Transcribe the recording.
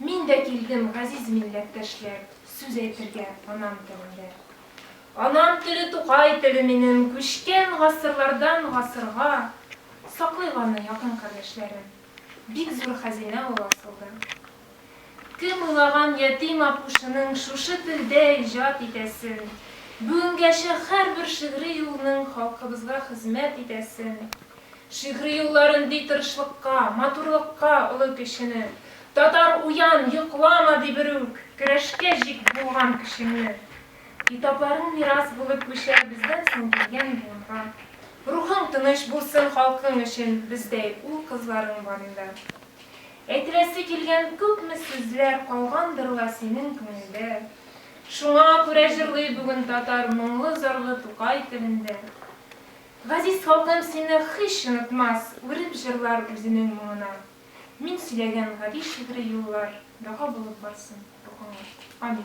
Мин дә килдем, газиз милләттәшләр, Сүз әйтергә анам телендә. Анам теле Тукай теле минем, Күчкән гасырлардан гасырга. Саклыйк аны, якын кардәшләрем, Бик зур хәзинә ул асылда. Кем уйлаган ятим апушының Шушы телдә иҗат итәсен? Бүгенгәчә һәрбер шигъри юлның Халкыбызга хезмәт итәсен? Шигъри юллар өнди тырышлыкка, матурлыкка олы кешене. Татар, уян, йоклама, ди берүк, көрәшкә җик булган көчеңне. Китапларың мирас булып күчәр бездән соң килгән буынга. Рухың тыныч булсын халкың өчен бездәй ул-кызларың барында. Әйтеләсе килгән күпме сүзләр калгандыр ла синең күңелдә. Шуңа күрә җырлый бүген татар моңлы-зарлы Тукай телендә. Газиз халкым сине һич онытмас, Үреп җырлар үзенең моңына. Мин сөйләгән гади шигъри юллар Дога булып барсын бу аңа. Амин.